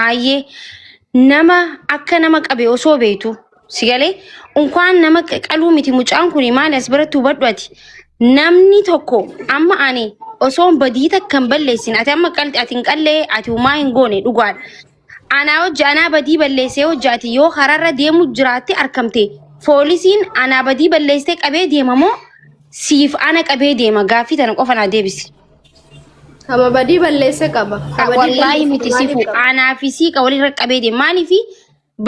Ayyee nama akka nama qabe osoo beektu si galee unkaan nama qa- qaluu miti mucaan kun maali as biratti hubadhu ati namni tokko amma ani osoo badii takka hin balleessin ati amma qalti ati hin qallee ati umaa hin goone dhugaadha. Anaa hojja anaa badii balleessee hojja ati yoo karaarra deemu jiraatte arkamte poolisiin anaa badii balleessee qabee deema moo siif ana qabee deema gaaffii tana qofa naa deebisi. Kama badii balleesse qaba. Ka badii Wallaahi balleesse miti maaliif sifu qaba? aanaa fi siiqa walirra qabee deema. Maaliif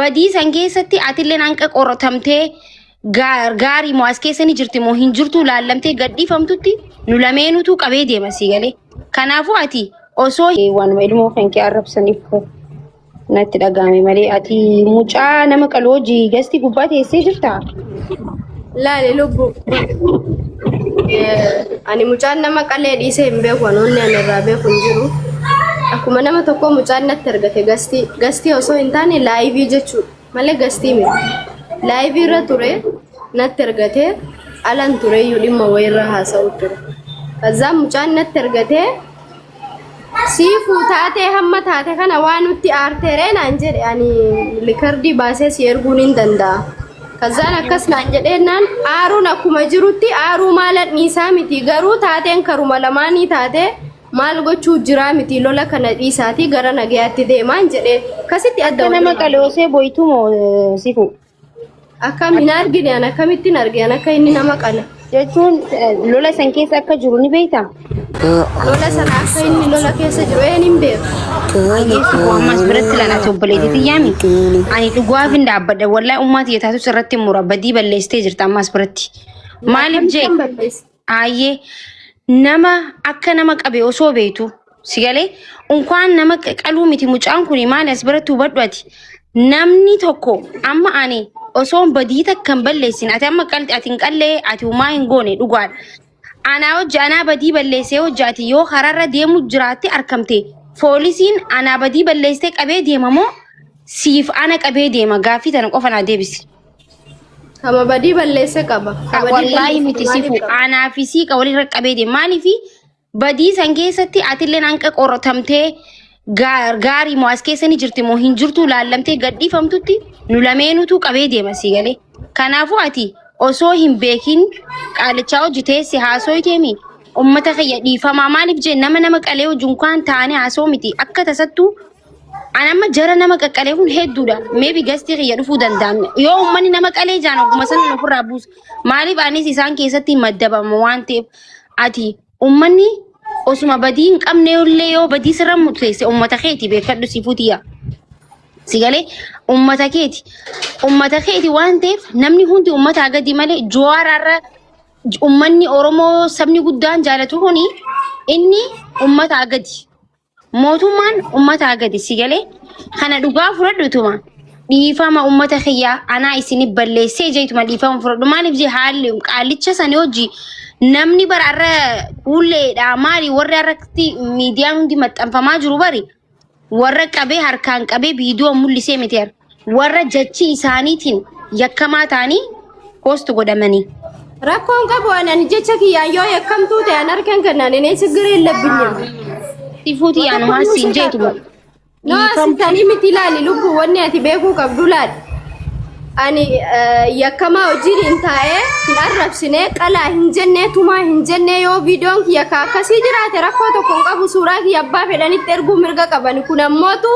badii san keessatti atilleen hanqa qoratamtee gaa- gaarii moo as keessa ni jirti moo hin jirtu laallamtee gadhiifamtutti nu lameenutu qabee deema sii galee. Kanaafuu ati osoo waanuma ilmoo kan kee arrabsaniif koo. Natti dhaga'ame malee ati mucaa nama qalu hojii gastii gubbaa teessee jirta. Laale lubbu. Ani mucaan nama qalee dhiisee hin beeku ani onnee ani irraa beeku hin jiru. Akkuma nama tokkoo mucaan natti argate gastii gastii osoo hin taane laayivii jechuudha malee gastii miti. Laayivii irra ture natti argate alan tureyyuu dhimma wayiirra haasa'u ture. Kazzaan mucaan natti argate Siifu taatee hamma taate kana waa nutti aarteeree naan jedhe ani likardii baasee si erguun hin danda'a. Kazzaan akkas naan jedheennaan aaruun akkuma jirutti aaruu maalan dhiisaa miti garuu taateen karuma lamaanii taatee maal gochuu jiraa miti lola kana dhiisaatii gara nagayaatti deemaan jedhee kasitti adda Akka nama waliin. qaloosee boytu moo sifu. Akkam hin argine an akkamittiin arge an akka inni nama qala. Jechuun eh, lola san keessa akka jiru ni beekta. Lola sana akka inni lola keessa jiru een hin beeku. Yesu koo ammas biratti lana obboleetii xiyyaami. Ani dhugaaf hin dhaabbadha. Wallahi ummaati yetaatus irratti mura badii balleessitee jirta ammas biratti. Maaliif jee Akkamittiin balleessa? Aayyee nama akka nama qabe osoo beektu si galee unkaan nama qa- qaluu miti mucaan kun maali as biratti hubadhu ati namni tokko amma ani osoo hin badii takka hin balleessin ati amma qalti ati hin qallee ati umaa hin goone dhugaadha. Anaa hojja anaa badii balleessee hojjaati yoo karaarra deemu jiraatte arkamte poolisiin anaa badii balleessee qabee deema moo siif ana qabee deema gaaffii tana qofa naa deebisi. Kama badii balleessa qaba. Ka badii Wallaahi balleessa miti maaliif sifu qaba? aanaa fi siiqa walirra qabee deema. Maaliif badii san keessatti atilleen hanqa qoratamtee gaa- gaarii moo as keessa ni jirti moo hin jirtu laallamtee gadhiifamtutti nu lameenutu qabee deema sii galee. Kanaafuu ati osoo hin beekin qaalichaa hojii teessi haasoo teemi uummata kiyya dhiifamaa maaliif jee nama nama qalee hojii kan taane haasoo miti akka tasattuu An amma jara nama qaqqalee kun hedduudha. Meebi gastii kiyya dhufuu danda'an. Yoo uummanni nama qalee jaan ogguma sana nu ofirraa buusa. Maaliif anis isaan keessatti maddabama waan ta'eef ati uummanni osuma badii hin qabne illee yoo badii sirra murteesse uummata keeti beekadhu si futiya. Sigalee uummata keeti. Uummata keeti waan ta'eef namni hundi uummataa gadi malee jowaaraarra uummanni Oromoo sabni guddaan jaalatu kuni inni uummataa gadi. Mootummaan ummataa gadi si galee kana dhugaa fudhadhutuma dhiifama ummata kiyyaa anaa isin balleessee jeetuma dhiifama fudhadhu maaliif jee haalli qaallicha sani hojii namni bara irra kuulleedha maali warri irratti miidiyaan hundi maxxanfamaa jiru bari warra qabee harkaan qabee viidiyoo mul'isee miti warra jechii isaaniitiin yakkamaa ta'anii post godhamanii. Rakkoon qabu anani jecha kiyyaan yoo yakkamtuu ta'e an harkan kannaan inee sigiree hin labbinne. Sifuuti yaanumaa siin jeetu moo. No asitanii miti ilaali lubbu wanni ati beekuu qabdu laali. Ani eh, yakkamaa hojiin hin taa'ee hin arrabsinee qalaa hin jennee tumaa hin jennee yoo viidiyoon kiyya ka akkasii jiraate rakkoo tokko hin qabu suuraa kiyya abbaa fedhanitti erguu mirga qabani kun ammootu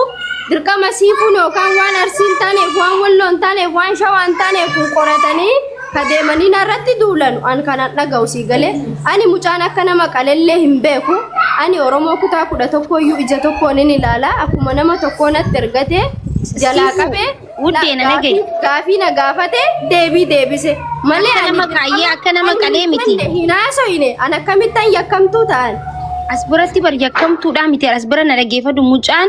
Dirqama siifuun yookaan waan arsiin taaneef waan walloon taaneef waan shawaan taaneef kun qoratanii kadeemanii narratti duulan an kanan dhaga'u sii galee ani mucaan akka nama qalellee hin beeku ani oromoo kutaa kudha tokkooyyuu ija tokkoon hin ilaala akkuma nama tokkoo natti ergatee jalaa qabee Wuddee na dhaga'i. Gaafii- Gaafii na gaafate deebii deebise. Malee Akka nama qaayyee, akka nama qalee miti. Hin haasofne an akkamittan yakkamtuu ta'an. As biratti bar yakkamtuudhaa miti as bira na dhaggeeffadhu mucaan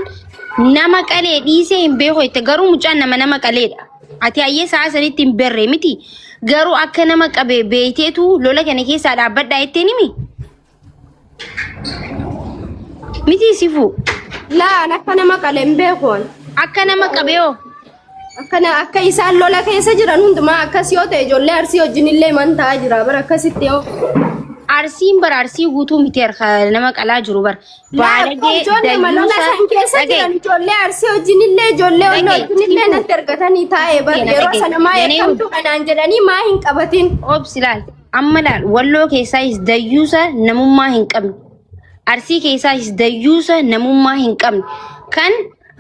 nama qalee dhiisee hin beeku jette garuu mucaan nama nama qaleedha. Ati hayyee sa'a sanitti hin berre miti garuu akka nama qabe beekteetu lola kana keessaa dhaabbadhaa jetteen himi. Miti sifu. Laan akka nama qale hin beeku an. Akka nama qabeeyo. Akkana akka isaan lola keessa jiran hundumaa akkas yoo ta'e ijoollee arsii wajjin illee man ta'aa jira bara akkasitti yoo. Arsiin bara arsii guutuu miti harka nama qalaa jiru bara. Baalagee ijoollee malola dayuusa. isaan keessa Dhaga'i. jiran ijoollee arsii wajjin illee ijoollee walloo Dhaga'i. wajjin illee natti argatanii taa'e bara Dhaga'i. yeroo sana maa Dhaga'i. eekamtuu kanaan jedhanii maa hin qabatin. Obsi laal. Amma laal walloo keessaayis dayyuusa namummaa hin qabne. Arsii keessaayis dayyuusa namummaa hin qabne. Kan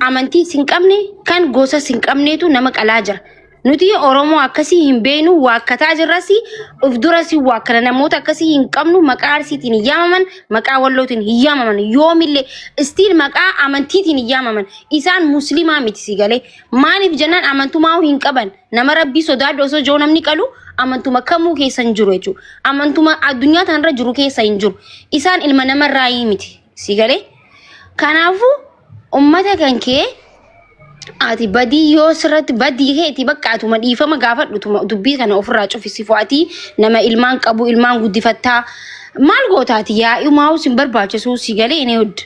amantiis hin qabne, kan gosas hin qabneetu nama qalaa jira. Nuti Oromoo akkasii hin beeknu waakkataa jirras of duras waakkana namoota akkasii hin qabnu maqaa arsiitiin hin yaamaman maqaa wallootiin hin yaamaman yoomillee istiil maqaa amantiitiin hin yaamaman isaan musliimaa miti si galee maaliif jennaan amantumaa hin qaban Nama rabbii sodaadhu osoo joo namni qalu amantuma kamuu keessa hin jiru jechuudha. Amantuma addunyaa tanarra jiru keessa hin jiru. Isaan ilma namarraa hii miti. Si galee? Kanaafuu ummata kan kee ati badii yoo sirratti badii keeti bakka atuma dhiifama gaafadhu tuma dubbii kana ofirraa cufisi fo'atii nama ilmaan qabu ilmaan guddifattaa maal gootaati yaa'i maa'us hin barbaachisu si galee inni hojja.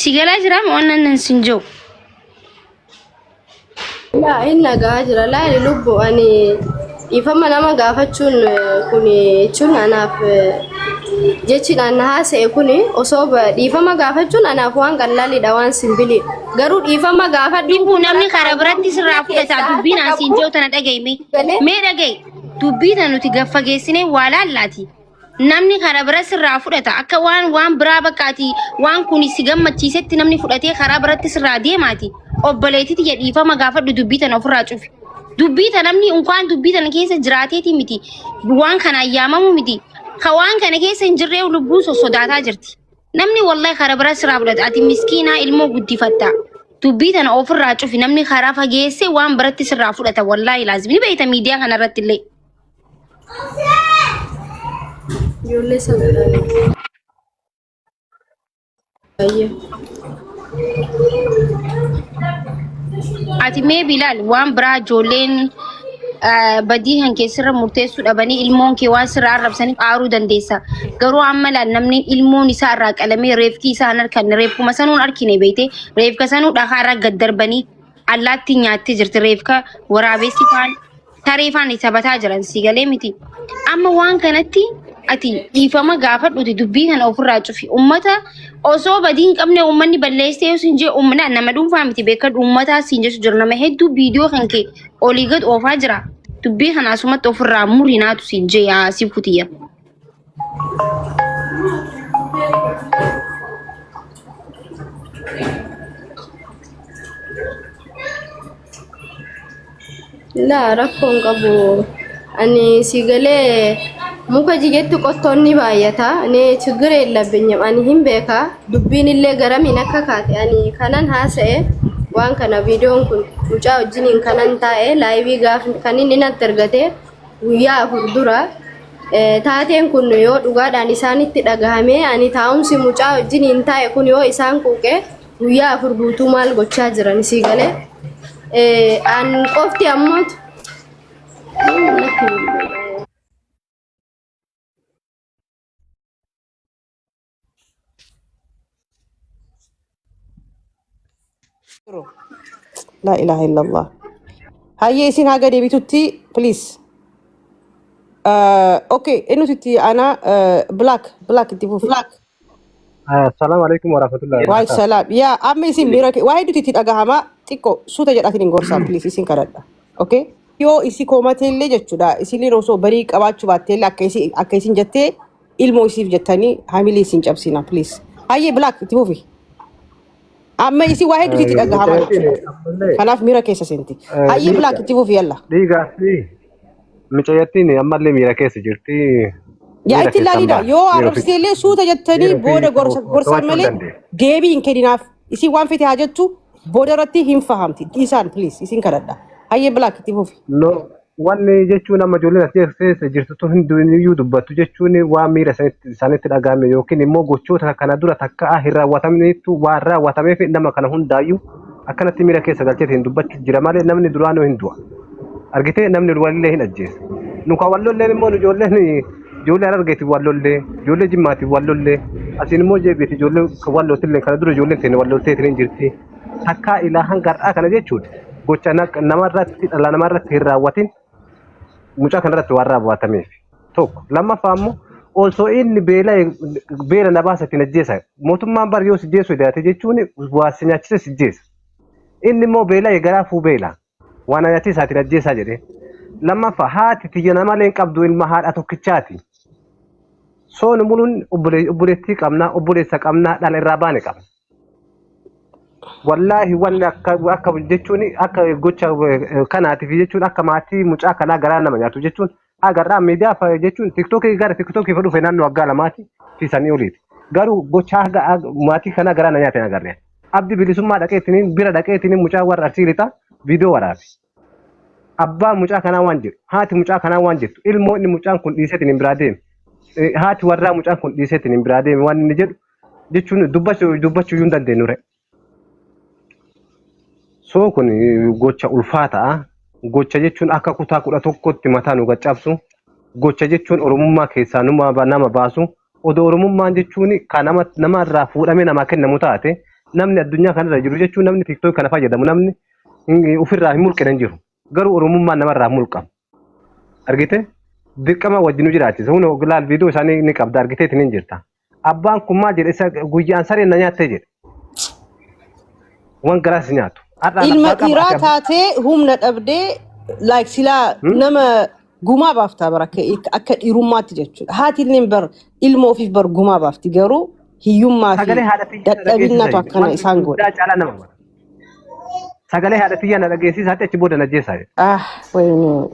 Si galaa jiraa moo annan nan sin jiru? Yaa inni nagaa jira laali lubbu ani dhiifama nama gaafachuun kun jechuun anaaf jechiidhaan na haasa'e kun osoo ba- dhiifama gaafachuun anaaf waan qallaaliidha waan simbilii garuu dhiifama gaafadhu Dhibbuu namni karaa biratti sirraa fudhataa dubbiin asiin jiru tana dhagahi mee. Mee dhagahi. Dubbii tana nuti gaffageessinee waa laallaati. namni karaa bira sirraa fudhata akka waan waan biraa bakkaati waan kun si gammachiisetti namni fudhatee karaa biratti sirraa deemaati obboleetiti ya dhiifama gaafadhu dubbii tana ofirraa cufi dubbii tana namni unkaan dubbii tana keessa jiraateeti miti waan kana ayyaamamu miti ka waan kana keessa hin jirree lubbuu sossodaataa jirti namni wallahi karaa bira sirraa fudhata ati miskiinaa ilmoo guddifatta dubbii tana ofirraa cufi namni karaa fageessee waan biratti sirraa fudhata wallahi laazim ni beeyta miidiyaa kanarratti illee Ijoollee sana ilaalee. Baay'ee. Ati mee bilaal waan biraa ijoolleen eh, badii kan keessarra murteessuu dhabanii ilmoon kee waan sirraa arrabsaniif aaruu dandeessa. Garuu amma laal namni ilmoon isaa irraa qalamee reefkii isaa hin arkanne reefkuma sanuun argine beekte reefka sanuu dhakaa irra gad darbanii allaattii nyaattee jirti reefka waraabessi faan Saree faan isa bataa jiran si galee miti. Amma waan kanatti ati dhiifama gaafadhuti dubbii kana ofirraa cufi. Ummata osoo badii hin qabne ummanni balleessee yoo siin jee ummata nama dhuunfaa miti beeka uummataa siin jechu jira nama hedduu viidiyoo kan kee olii gad oofaa jira. Dubbii kana asumatti ofirraa muri naatu siin jee yaa si kutiyya. Laa rakkoon qabu ani si galee muka jigetti qottoon ni baay'ata ni chigire labbinyam ani hin beeka dubbiin illee garamiin akka kaate ani kanan haasa'e waan kana viidiyoon kun mucaa wajjiniin kanan taa'e laayivii gaaf kan inni natti ergate guyyaa afur dura taateen kun yoo dhugaadhaan isaanitti dhagahame ani taa'umsi mucaa wajjiniin taa'e kun yoo isaan quuqe guyyaa afur guutuu maal gochaa jiran sii galee an qofti ammoo Yeroo. Laa ilaaha illallah. Hayyee isin haga deebitutti please. Uh, okay, eenyutu itti aanaa uh, black black itti fufi. Assalamu alaikum warahmatullahi Waal wabarakatuh. salaam. Yaa amma isin miira kee waa hedduutu itti dhagahama xiqqoo suuta jedhaatiin hin gorsaa please isin kadhadha. Okay? Yoo isi koomateellee jechuudha isin osoo barii qabaachuu baatteellee akka isin akka isin jettee ilmoo isiif jettanii hamilee isin cabsina please. Hayyee black itti fufi. Amma isi waa hedduutu itti dhagahama Mucaytiin jechuudha. ammallee Kanaaf miira keessa seenti. eh, Hayyee black dhiiga itti fufi yalla. dhiigaa fi mucaytiin ammallee miira keessa jirti. Yaa Miira itti keessaan ilaalidha. ba'a. Yoo Miira ofii arrabsitee illee suuta jettanii miira booda ofii gorsa to'achuu gorsaan hin malee dandeessu. deebii hin kenninaaf. Isin waan fete haa jettu booda irratti hin fahamti. Dhiisaan please isin kadhadha. Hayyee black itti fufi. No, Wanni jechuun amma ijoolleen as keessa jirtu tun hundiyyuu dubbattu jechuun waan miira isaanitti isaanitti dhaga'ame yookiin immoo gochoota kana dura takka hin raawwatamneettu waan raawwatameef nama kana hundaayyuu akkanatti miira keessa galcheetiin dubbachuuf jira malee namni duraanuu hin du'a. Argitee namni walillee hin ajjeesa. Nu kan wal lolleen immoo nu ijoolleen ijoollee harargeetiin wal lollee ijoollee jimmaatiin wal lollee asiin immoo jeebiiti ijoolleen kan wal loltillee kana dura ijoolleen teenya wal lolteetiin hin jirti. takkaa ilaa hanga har'aa kana jechuun gocha naq- namarratti dhala namarratti hin raawwatin mucaa kanarratti waan raawwatameef tokko lammaffaa ammoo osoo inni beela beela na baasa ittiin ajjeesa mootummaan bar yoo sijjeessu daate jechuun waa si nyaachise sijjeesa inni immoo beela garaa fuu beela waan ayati isaatiin ajjeesaa jedheen lammaffa haati tiyya namalee hin qabdu ilma haadha tokkichaati sooni muluun obbole- obboleettii qabna obboleessa qabna dhala irraa baane qabna wallaahi wanni akka akka jechuun akka gocha eh, kanaatiif jechuun akka maatii mucaa kanaa garaa nama nyaatu jechuun Agarraa miidiyaa fa- jechuun tiktookii gara tiktookii fa dhufe naannoo waggaa lamaati fi sanii oliiti. Garuu gochaa haga haga- maatii kanaa garaa na nyaate hin agarre. Abdi bilisummaa dhaqeetiniin bira dhaqeetiniin mucaa warra arsii lixaa viidiyoo waraabe. Abbaan mucaa kanaa waan jedhu haati mucaa kanaa waan jettu ilmoo inni mucaan kun dhiiseetiin hin biraa deeme. Eh, Haati warraa mucaan kun dhiiseetiin hin biraa deeme waan inni jedhu jechuun dubbachuu dubbachuu hin dandeenyure. So kun gocha ulfaata'a. Gocha jechuun akka kutaa kudha tokkotti mataa nu gaccabsu. Gocha jechuun oromummaa keessaa numa ba- nama baasu. Odoo oromummaan jechuun kan nama nama irraa fuudhamee namaa kennamu taate namni addunyaa kanarra jiru jechuun namni tiktook kana fayyadamu namni hin- ofirraa hin mulqine hin jiru. Garuu Oromummaan namarraa mulqama. Argite? Dirqama wajjin nu jiraachisa. Hunda oglaal viidiyoo isaanii ni qabda argitee ittiin hin jirta. Abbaan kun maal jedhe isa guyyaan sareen na nyaattee jedhe. Waan garaas nyaatu. Har'aan Ilma abbaa qaba ati dhiiraa abbaa. taatee humna dhabdee like silaa Hmm? nama gumaa baaftaa bara akka akka dhiirummaatti jechuudha. Haati illee bar ilma ofiif bar gumaa baafti garuu hiyyummaa fi Sagalee haadha tiyyaa dadhabinnaatu dhageessisa. akkana Waan isaan godha. guddaa caalaa nama bara. Sagalee haadha tiyyaa na dhageessisaa jettee achi booda na ajjeesaa jedhe. Ah, wayne.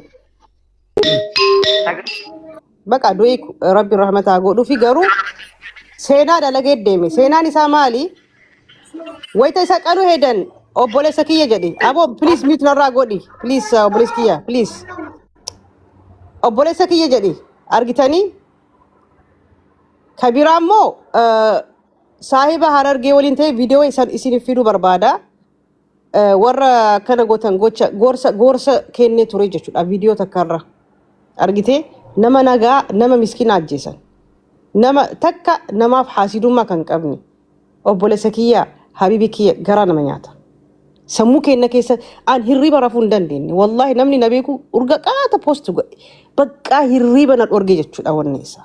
Baqa du'e rabbi rahmataa godhuufi garuu seenaa dalagee deeme. Seenaan isaa maali? Wayita isa qalu hedan obboleessa kiyya jedhe. Aboo please mute narraa godhi. Please uh, obboleessa kiyya please. Obboleessa kiyya jedhe argitanii kabiraa immoo uh, Saahiba Harargee waliin ta'e viidiyoo isan isiniif fiduu barbaada. Eh, Warra akkana gootan gocha gorsa gorsa kennee ture jechuudha viidiyoo takkarra. Argitee nama nagaa nama miskiina ajjeesan. Nama takka namaaf haasidummaa kan qabne. Obboleessa kiyya habibi kiyya garaa nama nyaata. sammuu keenya keessa an hirriba rafuu hin dandeenye wallaahi namni na beeku urga qaata poosti godhe baqqaa hirriba na dhorge jechuudha wanni isaa.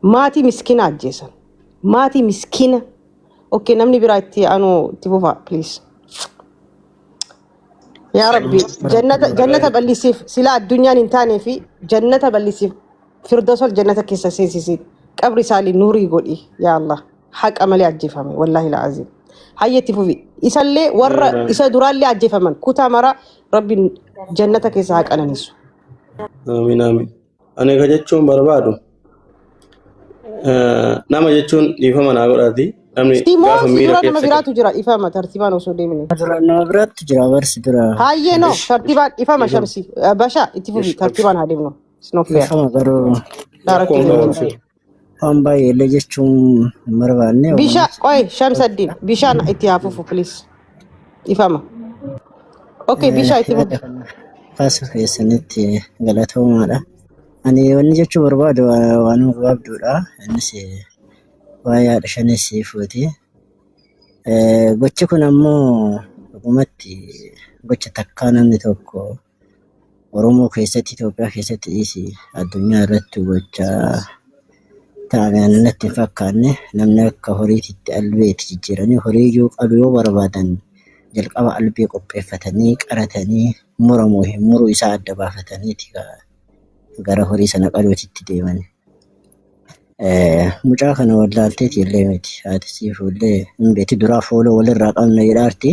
Maatii miskina ajjeesan. Maatii miskina. Okay namni biraa itti anu itti fufa please. Yaa Rabbi jannata jannata bal'isiif sila addunyaan hin taane fi jannata bal'isiif firdosol jannata keessa seensisi qabri isaanii nuurii godhi yaa Allah haqa malee ajjeefame wallaahi la'aziim hayyetti fufi isallee warra isa duraallee ajjeefaman kutaa mara Rabbi jannata keessa haa qananiisu. Amin amin. Ani ka jechuun barbaadu eh, nama jechuun dhiifama naa godhaati. Namni Si moo gaafa si miira dura nama keessa biraatu jira dhifama tartiibaan osoo deemine. Dura nama biraatti jira barsi dura. Hayyee no Ish, tartiibaan dhifama dhiifama. shamsi Eh, basha itti fufi Ish, absh, tartiibaan haa deemnu. It's not fair. Dhiifama garuu. Daarakti Rakkoon deemuu qabu hin absh. fedhu. Waan baay'ee illee jechuun hin barbaanne Bishaan walumaatti. qoy shamsaddiin bishaan itti haa fufu please. Ifama. Okay bishaa itti fufu. Kaasuu keessanitti galatoomaadha. Ani wanni jechuu barbaadu waa- waanuma gabaabduudha. Innis eh, waa'ee haadha shanee sii fuuti. Eh, Gochi kun ammoo dhugumatti gocha takkaa namni tokko Oromoo keessatti Itoophiyaa keessatti dhiisi addunyaa irratti gochaa ta'an natti hin fakkaanne namni akka horiititti albee itti jijjiiranii horii iyyuu qalu yoo barbaadan jalqaba albee qopheeffatanii qaratanii muramu hin muru isaa adda baafataniiti gara horii sana qaluutitti deeman. Mucaa kana wallaalteeti illee miti haati siifuu illee hin beekti duraa fooloo walirraa qabna jedhaarti.